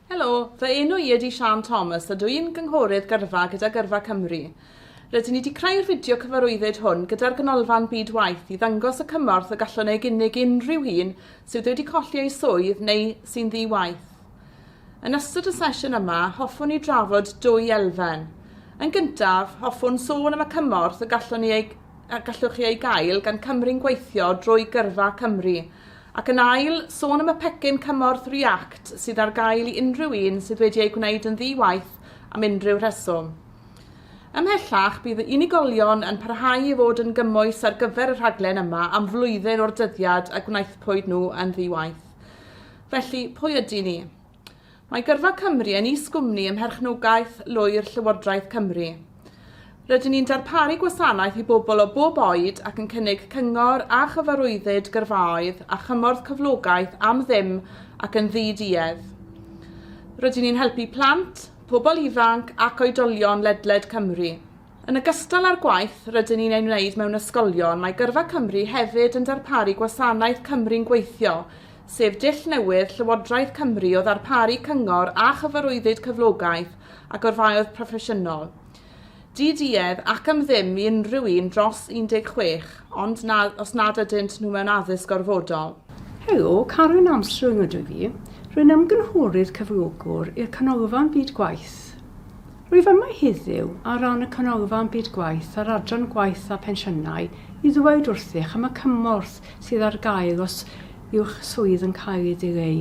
Helo, fy enw i ydy Siân Thomas a dw i'n gynghorydd gyrfa gyda Gyrfa Cymru. Rydyn ni wedi creu'r fideo cyfarwyddyd hwn gyda'r Ganolfan Byd Waith i ddangos y cymorth y gallwn ei gynnig unrhyw un sydd wedi colli ei swydd neu sy'n ddi-waith. Yn ystod y sesiwn yma, hoffwn ni drafod dwy elfen. Yn gyntaf, hoffwn sôn am y cymorth y gallwn ni ei, a gallwch chi ei gael gan Cymru'n gweithio drwy Gyrfa Cymru Ac yn ail, sôn am y pecyn cymorth React sydd ar gael i unrhyw un sydd wedi ei gwneud yn ddi-waith am unrhyw rheswm. Ymhellach, bydd y unigolion yn parhau i fod yn gymwys ar gyfer y rhaglen yma am flwyddyn o'r dyddiad y gwnaethpwyd nhw yn ddi-waith. Felly, pwy ydyn ni? Mae Gyrfa Cymru yn is-gwmni ym mherchnogaeth lwyr Llywodraeth Cymru. Rydyn ni'n darparu gwasanaeth i bobl o bob oed ac yn cynnig cyngor a chyfarwyddyd gyrfaoedd a chymorth cyflogaeth am ddim ac yn ddi-duedd. Rydyn ni'n helpu plant, pobl ifanc ac oedolion ledled Cymru. Yn ogystal â'r gwaith rydyn ni'n ei wneud mewn ysgolion, mae Gyrfa Cymru hefyd yn darparu gwasanaeth Cymru'n Gweithio, sef dull newydd Llywodraeth Cymru o ddarparu cyngor a chyfarwyddyd cyflogaeth a gorfaoedd proffesiynol, di-duedd ac am ddim i unrhyw un dros 16, ond na, os nad ydynt nhw mewn addysg gorfodol. Helo, Karen Armstrong ydw i. Rwy'n ymgynghorydd cyflogwr i'r Canolfan Byd Gwaith. Rwyf yma heddiw ar ran y Canolfan Byd Gwaith a'r Adran Gwaith a Phensiynau i ddweud wrthych am y cymorth sydd ar gael os yw'ch swydd yn cael ei ddileu.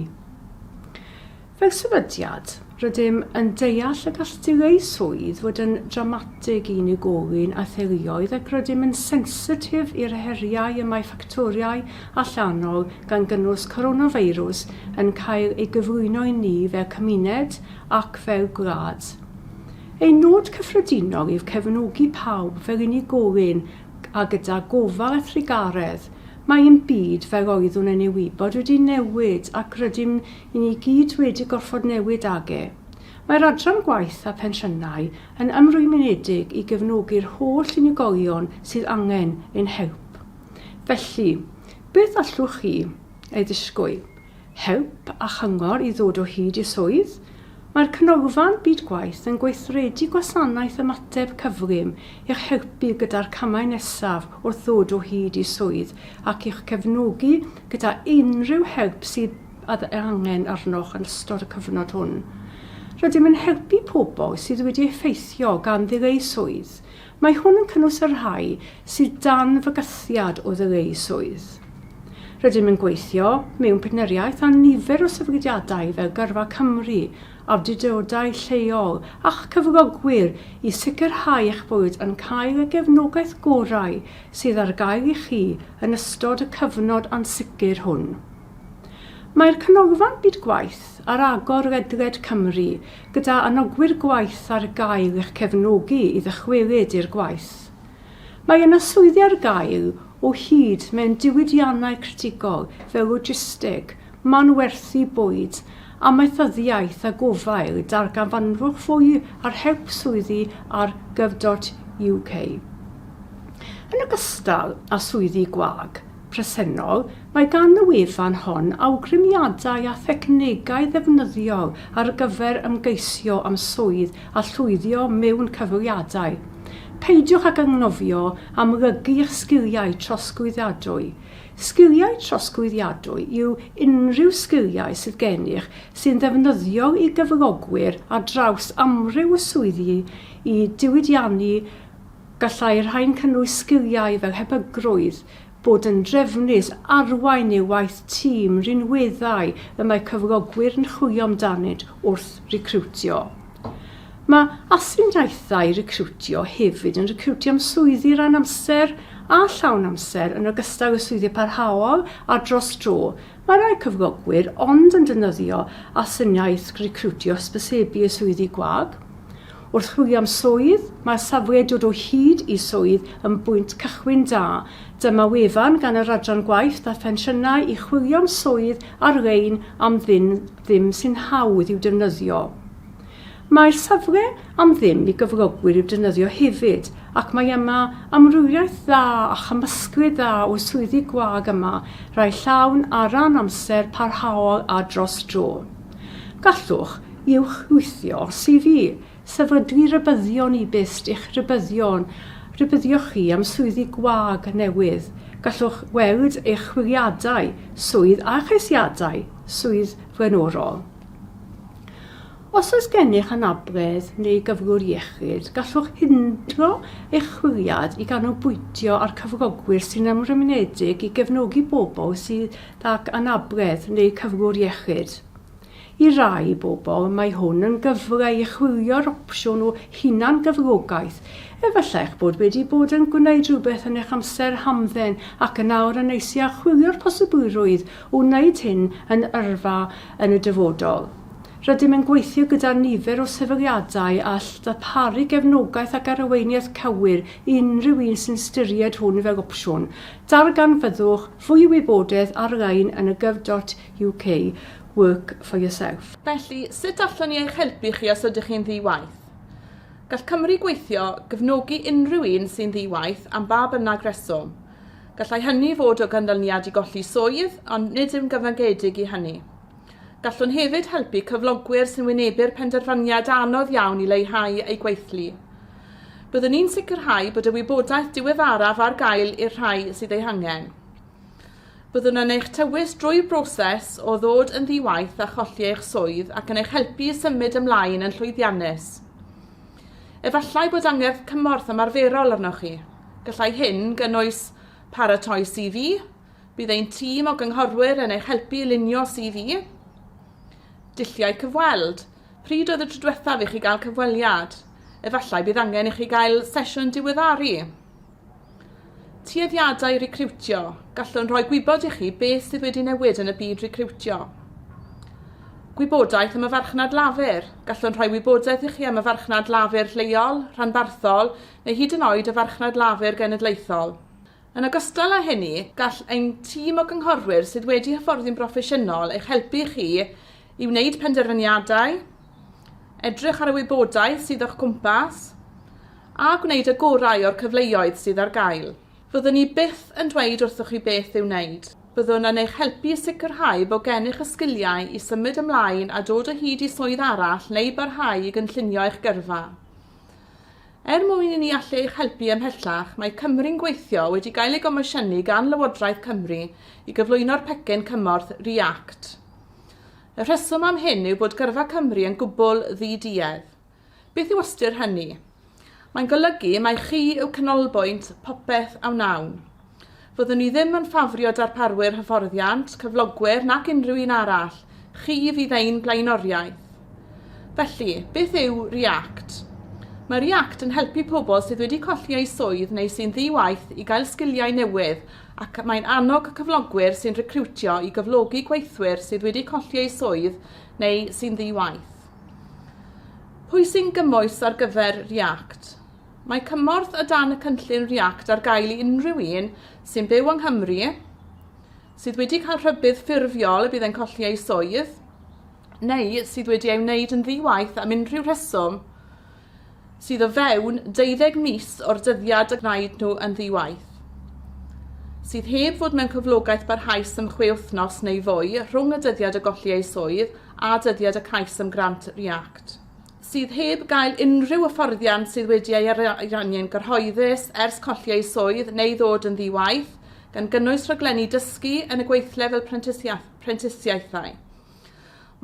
Fel sefydliad, rydym yn deall y gall dileu swydd fod yn drawmatig i unigolyn a theuluoedd ac rydym yn sensitif i'r heriau y mae ffactorau allanol, gan gynnwys coronafeirws, yn cael ei gyflwyno i ni fel cymuned ac fel gwlad. Ein nod cyffredinol yw cefnogi pawb fel unigolyn a gyda gofal a thrugaredd, mae ein byd fel oeddwn yn ei wybod wedi newid ac rydym ni i gyd wedi gorfod newid ag e. Mae'r Adran Gwaith a Phensiynau yn ymrwymedig i gefnogi'r holl unigolion sydd angen ein help. Felly, beth allwch chi ei ddisgwyl? help a chyngor i ddod o hyd i swydd, mae'r Canolfan Byd Gwaith yn gweithredu gwasanaeth ymateb cyflym i'ch helpu gyda'r camau nesaf wrth ddod o hyd i swydd ac i'ch cefnogi gyda unrhyw help sydd ei angen arnoch yn ystod y cyfnod hwn. Rydym yn helpu pobl sydd wedi effeithio gan ddileu swydd, Mae hwn yn cynnwys y rhai sydd dan fygythiad o ddod eu swydd. Rydym yn gweithio mewn partneriaeth â nifer o sefydliadau fel Gyrfa Cymru, awdurdodau lleol a'ch cyflogwyr i sicrhau eich bod yn cael y gefnogaeth gorau sydd ar gael i chi yn ystod y cyfnod ansicr hwn. Mae'r Canolfan Byd Gwaith ar agor ledled Cymru gyda anogwyr gwaith ar gael i'ch cefnogi i ddychwelyd i'r gwaith. Mae yna swyddi ar gael o hyd mewn diwydiannau critigol fel logisteg, manwerthu bwyd, amaethyddiaeth a gofael, darganfanwch fwy ar help swyddi ar gov.uk. Yn ogystal â swyddi gwag, presennol, mae gan y wefan hon awgrymiadau a thechnegau ddefnyddiol ar gyfer ymgeisio am swydd a llwyddio mewn cyfweliadau. Peidiwch ag anghofio amlygu eich sgiliau trosglwyddiadwy. Sgiliau trosglwyddiadwy yw unrhyw sgiliau sydd gennych sy'n ddefnyddiol i gyflogwyr ar draws amryw o swyddi i diwydiannu Gallai'r rhain cynnwys sgiliau fel hebygrwydd, bod yn drefnus, arwain neu waith tîm, rhinweddau y mae cyflogwyr yn chwilio amdanynt wrth recriwtio. Mae astudiaethau recriwtio hefyd yn recriwtio am swyddi ran amser a llawn amser yn ogystal â swyddi parhaol a dros dro. Mae rhai cyflogwyr ond yn defnyddio astudiaeth recriwtio hysbysebu i swyddi gwag. Wrth chwilio am swydd, mae'r safle Dod o Hyd i Swydd yn bwynt cychwyn da. Dyma wefan gan yr Adran Gwaith a Phensiynau i chwilio am swydd ar-lein am ddim ddim sy'n hawdd i'w defnyddio. Mae'r safle am ddim i gyflogwyr i'w defnyddio hefyd ac mae yma amrywiaeth dda a chymysglyd dda o swyddi gwag yma, rhai llawn a ran amser, parhaol a dros dro. Gallwch uwchwythio CV, sefydlu rhybuddion e-byst i'ch rhybuddion, rhybuddio chi am swyddi gwag newydd. Gallwch weld eich chwiliadau swydd a cheisiadau swydd flaenorol. Os oes gennych anabledd neu gyflwr iechyd, gallwch hindro eich chwiliad i ganolbwyntio ar cyflogwyr sy'n ymrwymedig i gefnogi bobl sydd ac anabledd neu cyflwr iechyd. I rai bobl, mae hwn yn gyfle i chwilio'r opsiwn o hunan-gyflogaeth. Efallai eich bod wedi bod yn gwneud rhywbeth yn eich amser hamdden ac yn awr yn eisiau chwilio'r posibilrwydd o wneud hyn yn yrfa yn y dyfodol. Rydym yn gweithio gyda nifer o sefydliadau all ddarparu gefnogaeth ac arweiniaeth cywir i unrhyw un sy'n ystyried hwn fel opsiwn. Darganfyddwch Fwy o wybodaeth ar-lein yn y gov.uk Work for Yourself. Felly, sut allwn ni eich helpu chi os ydych chi'n ddi-waith? Gall Cymru Gweithio gefnogi unrhyw un sy'n ddi-waith am ba bynnag reswm. Gallai hynny fod o ganlyniad i golli swydd, ond nid yw'n gyfyngedig i hynny. Gallwn hefyd helpu cyflogwyr sy'n wynebu'r penderfyniad anodd iawn i leihau eu gweithlu. Byddwn ni'n sicrhau bod y wybodaeth diweddaraf ar gael i'r rhai sydd ei hangen. Byddwn yn eich tywys drwy broses o ddod yn ddi-waith a cholli eich swydd ac yn eich helpu i symud ymlaen yn llwyddiannus. Efallai bod angerdd cymorth ymarferol arnoch chi. Gallai hyn gynnwys paratoi CV, Bydd ein tîm o gynghorwyr yn eich helpu i lunio CV. Dulliau cyfweld. Pryd oedd y tro diwethaf i chi gael cyfweliad? Efallai bydd angen i chi gael sesiwn diweddaru. Tueddiadau recriwtio. Gallwn rhoi gwybod i chi beth sydd wedi newid yn y byd recriwtio. Gwybodaeth am y farchnad lafur. Gallwn rhoi wybodaeth i chi am y farchnad lafur lleol, rhanbarthol neu hyd yn oed y farchnad lafur genedlaethol. Yn ogystal â hynny, gall ein tîm o gynghorwyr sydd wedi hyfforddi'n broffesiynol eich helpu chi i wneud penderfyniadau, edrych ar y wybodaeth sydd o'ch cwmpas, a gwneud y gorau o'r cyfleoedd sydd ar gael. Fyddwn ni byth yn dweud wrthoch chi beth i'w wneud. Byddwn yn eich helpu i sicrhau bod gennych y sgiliau i symud ymlaen a dod o hyd i swydd arall neu barhau i gynllunio eich gyrfa. Er mwyn i ni allu eich helpu ymhellach, mae Cymru'n Gweithio wedi gael ei gomosiynu gan Lywodraeth Cymru i gyflwyno'r pecyn cymorth ReAct. Y rheswm am hyn yw bod gyrfa Cymru yn gwbl ddi-duedd. Beth yw ystyr hynny? Mae'n golygu mai chi yw canolbwynt popeth a wnawn. Fyddwn i ddim yn ffafrio darparwyr hyfforddiant, cyflogwyr nac unrhyw un arall, chi fydd ein blaenoriaeth. Felly, beth yw ReAct? Mae ReAct yn helpu pobl sydd wedi colli eu swydd neu sy'n ddi-waith i gael sgiliau newydd ac mae'n annog cyflogwyr sy'n recriwtio i gyflogi gweithwyr sydd wedi colli eu swydd neu sy'n ddi-waith. Pwy sy'n gymwys ar gyfer ReAct? Mae cymorth o dan y cynllun ReAct ar gael i unrhyw un sy'n byw yng Nghymru, sydd wedi cael rhybudd ffurfiol y bydd e'n colli ei swydd, neu sydd wedi ei wneud yn ddi-waith am unrhyw rheswm sydd o fewn 12 mis o'r dyddiad y gwnaed nhw yn ddi-waith, sydd heb fod mewn cyflogaeth barhaus am chwe wythnos neu fwy rhwng y dyddiad o golli eu swydd a dyddiad y cais am grant ReAct. sydd heb gael unrhyw hyfforddiant sydd wedi ei ariannu'n gyhoeddus ers colli eu swydd neu ddod yn ddi-waith, gan gynnwys rhaglenni dysgu yn y gweithle fel prentisiaethau.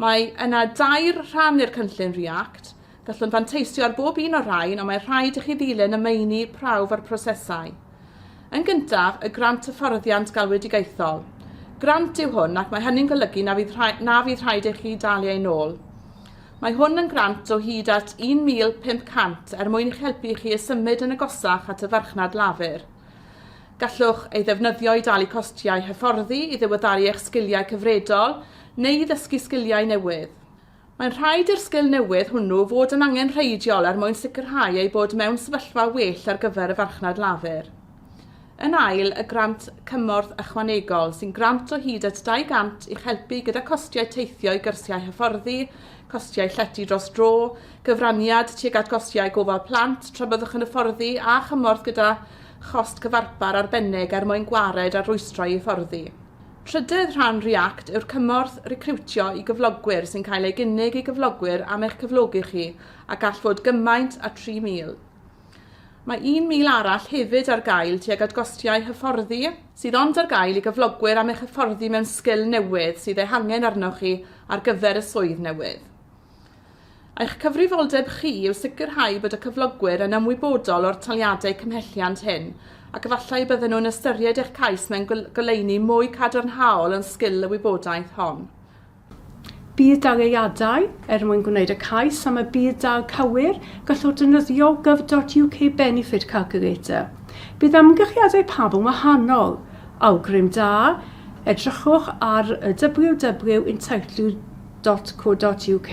Mae yna dair rhan i'r cynllun React. Gallwn fanteisio ar bob un o'r rhain, ond mae rhaid i chi ddilyn y meini prawf a'r prosesau. Yn gyntaf, y grant hyfforddiant galwedigaethol. Grant yw hwn ac mae hynny'n golygu na fydd, rhaid, na fydd rhaid i chi dalu ein ôl. Mae hwn yn grant o hyd at £1,500 er mwyn eich helpu i chi i symud yn agosach at y farchnad lafur. Gallwch ei ddefnyddio i dalu costiau hyfforddi, i ddiweddaru eich sgiliau cyfredol, neu i ddysgu sgiliau newydd. Mae'n rhaid i'r sgil newydd hwnnw fod yn angenrheidiol er mwyn sicrhau eu bod mewn sefyllfa well ar gyfer y farchnad lafur. Yn ail, y grant cymorth ychwanegol, sy'n grant o hyd at 200 i'ch helpu gyda costiau teithio i gyrsiau hyfforddi, costiau llety dros dro, cyfraniad tuag at gostiau gofal plant tra byddwch yn hyfforddi a chymorth gyda chost cyfarpar arbennig er mwyn gwared ar rwystrau i hyfforddi. Trydedd rhan REACT yw'r cymorth recriwtio i gyflogwyr sy'n cael ei gynnig i gyflogwyr am eich cyflogi chi a gall fod gymaint â 3,000. Mae 1,000 arall hefyd ar gael tuag at gostiau hyfforddi, sydd ond ar gael i gyflogwyr am eich hyfforddi mewn sgil newydd sydd eu hangen arnoch chi ar gyfer y swydd newydd. Eich cyfrifoldeb chi yw sicrhau bod y cyflogwyr yn ymwybodol o'r taliadau cymhelliant hyn ac efallai y bydden nhw'n ystyried eich cais mewn goleuni mwy cadarnhaol yn sgil y wybodaeth hon. Bydd dalgylliadau er mwyn gwneud y cais am y budd-dal cywir, gallwch ddefnyddio gov.uk Benefit Calculator. Bydd amgylchiadau pawb yn wahanol. Awgrym da, edrychwch ar www.entitledu.co.uk.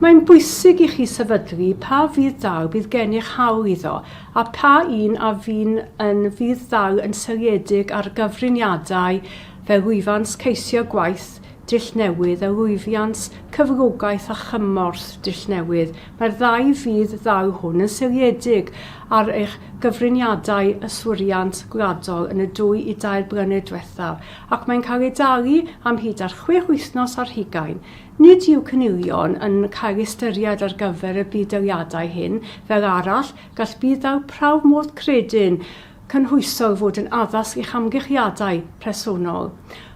Mae'n bwysig i chi sefydlu pa fudd-dal bydd gennych hawl iddo a pha un a fy'n yn fudd-dal yn seiliedig ar gyfriniadau Fe lwyfant ceisio gwaith dull newydd a lwyfiant cyflogaeth a chymorth dull newydd, mae'r ddau fudd ddaw hwn yn seiliedig ar eich gyfriniadau yswiriant gwladol yn y dwy i dair blynedd diwethaf ac mae'n cael ei dalu am hyd at chwech wythnos ar hugain. Nid yw cynilion yn cael eu ystyried ar gyfer y budd-daliadau hyn, fel arall, gall budd-dal prawf modd credyn cynhwysol fod yn addas i'ch amgylchiadau presennol.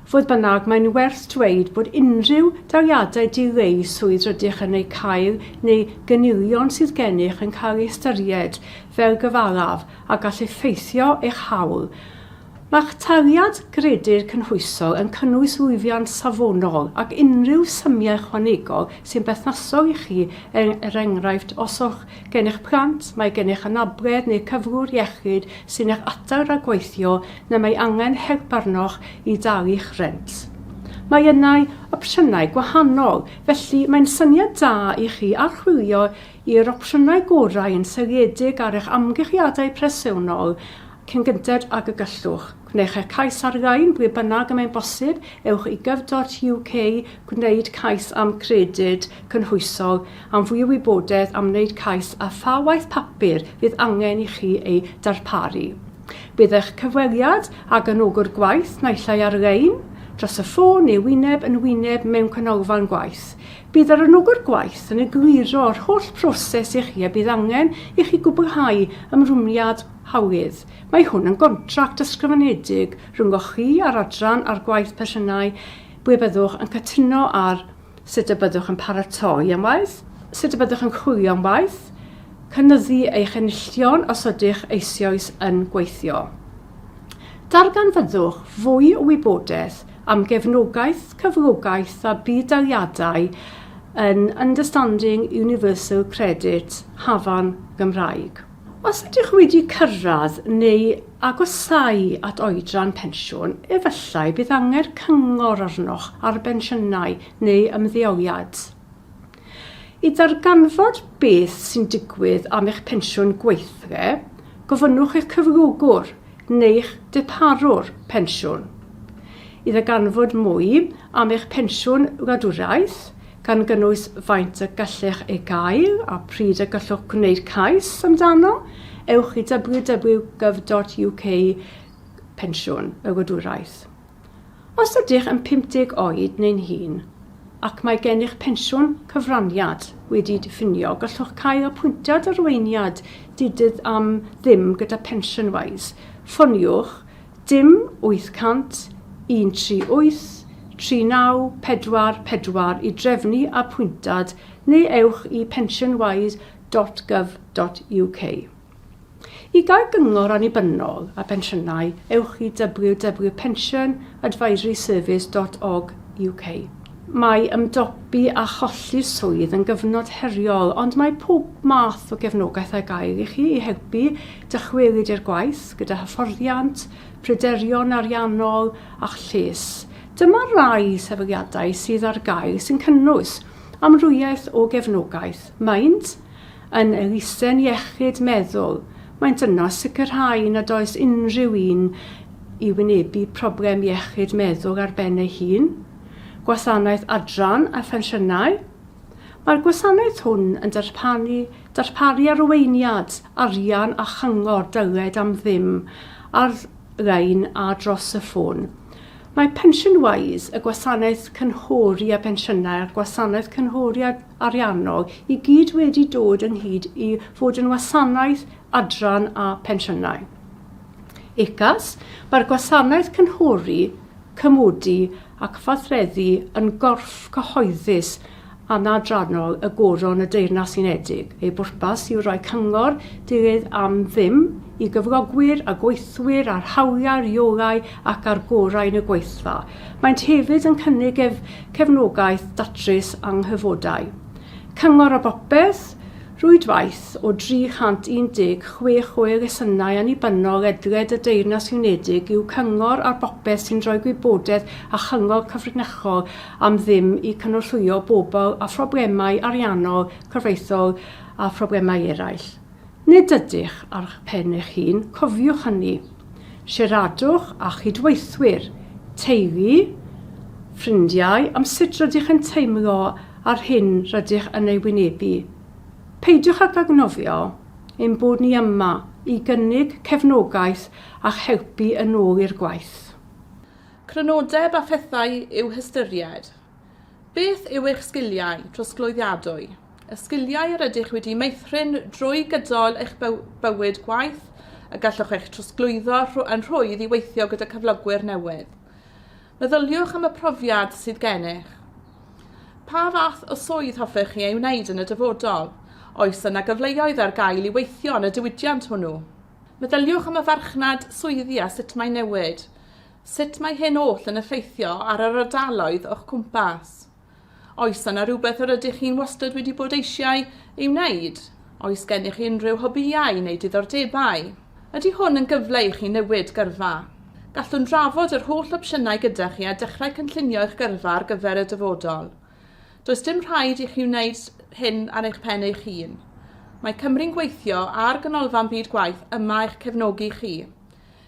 Fodd bynnag, mae'n werth dweud bod unrhyw dawiadau dileu swydd rydych yn eu cael neu gynilion sydd gennych yn cael eu hystyried fel gyfalaf a gall effeithio eich hawl. Mae'ch taliad Gredir Cynhwysol yn cynnwys lwyddiant safonol ac unrhyw symiau ychwanegol sy'n berthnasol i chi, er enghraifft os yw'ch gennych blant, mae gennych anabledd neu gyflwr iechyd sy'n eich adar rhag gweithio neu mae angen help arnoch i dalu'ch rhent. Mae yna opsiynau gwahanol, felly mae'n syniad da i chi archwilio i'r opsiynau gorau yn seiliedig ar eich amgylchiadau presennol Cyn gynted ag y gallwch, gwnewch eich cais ar-lein, ble bynnag y mae'n bosib, ewch i gov.uk, gwneud cais am Gredyd Cynhwysol am fwy o wybodaeth am wneud cais a pha waith papur fydd angen i chi ei darparu. Bydd eich cyfweliad â gefnogwr gwaith naill ai ar-lein, dros y ffôn neu wyneb yn wyneb mewn canolfan gwaith. Bydd yr anogwr gwaith yn egluro'r holl broses i chi a bydd angen i chi gwblhau ymrwymiad Hawdd. Mae hwn yn gontract ysgrifenedig rhyngoch chi a'r adran a'r gwaith persiynau ble byddwch yn cytuno ar sut y byddwch yn paratoi am waith, sut y byddwch yn chwilio am waith, cynyddu eich enillion os ydych eisioes yn gweithio. Darganfyddwch fwy o wybodaeth am gefnogaeth, cyflogaeth a budd-daliadau yn Understanding Universal Credit, Hafan, Gymraeg. Os ydych wedi cyrraedd neu agosáu at oedran pensiwn, efallai bydd angen cyngor arnoch ar bensiynau neu ymddeoliad. I ddarganfod beth sy'n digwydd am eich pensiwn gweithle, gofynnwch eich cyflogwr neu'ch darparwr pensiwn. I ddarganfod mwy am eich pensiwn wladwriaeth, gan gynnwys faint y gallech ei gael a pryd y gallwch gwneud cais amdano, ewch i www.gov.uk Pensiwn y Wladwriaeth. Os ydych yn 50 oed neu'n hŷn ac mae gennych pensiwn cyfraniad wedi'i diffinio, gallwch cael apwyntiad arweiniad di-dydd am ddim gyda PensionWise. Ffoniwch dim 800-138 3944 i drefnu apwyntad neu ewch i pensionwise dot gov dot uk. I gael cyngor annibynnol a phensiynau, ewch i www.pensionadvisoryservice dot org uk. Mae ymdopi â cholli swydd yn gyfnod heriol, ond mae pob math o gefnogaeth ar gael i chi i helpu dychwelyd i'r gwaith, gyda hyfforddiant, pryderon ariannol a'ch lles. Dyma rai sefydliadau sydd ar gael sy'n cynnwys amrywiaeth o gefnogaeth, maent Yn elusen iechyd meddwl, maent yno sicrhau nad oes unrhyw un i wynebu problem iechyd meddwl ar ben ei hun, Gwasanaeth Adran a Phensiynau. Mae'r gwasanaeth hwn yn darparu, darparu arweiniad, arian a chyngor dyled am ddim ar lein a dros y ffôn. Mae Pension Wise, y gwasanaeth cynghori a phensiynau a'r gwasanaeth cynghori a ariannol i gyd wedi dod ynghyd i fod yn wasanaeth adran a phensiynau. UCAS, mae'r gwasanaeth cynghori, cymodi ac fathredu yn gorff cyhoeddus anadrannol y Goron y Deyrnas Unedig. Ei bwrpas yw rhoi cyngor dydd am ddim i gyflogwyr a gweithwyr ar hawliau, rheolau ac ar gorau yn y gweithfa. Maent hefyd yn cynnig ef cefnogaeth datrys anghyfodau, cyngor a bopeth, rwydwaith o 316 o elusennau annibynnol ledled y Deyrnas Unedig yw Cyngor ar Bopeth sy'n rhoi gwybodaeth a chyngor cyfrinachol am ddim i cynorthwyo bobl â phroblemau ariannol, cyfreithiol a phroblemau eraill. Nid ydych ar eich pen eich hun, cofiwch hynny. Siaradwch â chydweithwyr, teulu, ffrindiau am sut rydych yn teimlo a'r hyn rydych yn ei wynebu. Peidiwch ag anghofio ein bod ni yma i gynnig cefnogaeth a'ch helpu yn ôl i'r gwaith. Crynodeb a phethau i'w hystyried, Beth yw eich sgiliau trosglwyddiadwy? Y sgiliau yr ydych wedi meithrin drwy gydol eich bywyd gwaith y gallwch eich trosglwyddo yn rhwydd i weithio gyda cyflogwyr newydd. Meddyliwch am y profiad sydd gennych. Pa fath o swydd hoffech chi ei wneud yn y dyfodol? Oes yna gyfleoedd ar gael i weithio yn y diwydiant hwnnw? Meddyliwch am y farchnad swyddi a sut mae'n newid. Sut mae hyn oll yn effeithio ar yr ardaloedd o'ch cwmpas? Oes yna rhywbeth yr ydych chi'n wastad wedi bod eisiau ei wneud? Oes gennych chi unrhyw hobïau neu diddordebau? Ydy hwn yn gyfle i chi newid gyrfa? Gallwn drafod yr holl opsiynau gyda chi a dechrau cynllunio eich gyrfa ar gyfer y dyfodol. Does dim rhaid i chi wneud hyn ar eich pen eich hun. Mae Cymru'n Gweithio a'r Ganolfan Byd Gwaith yma i'ch cefnogi chi.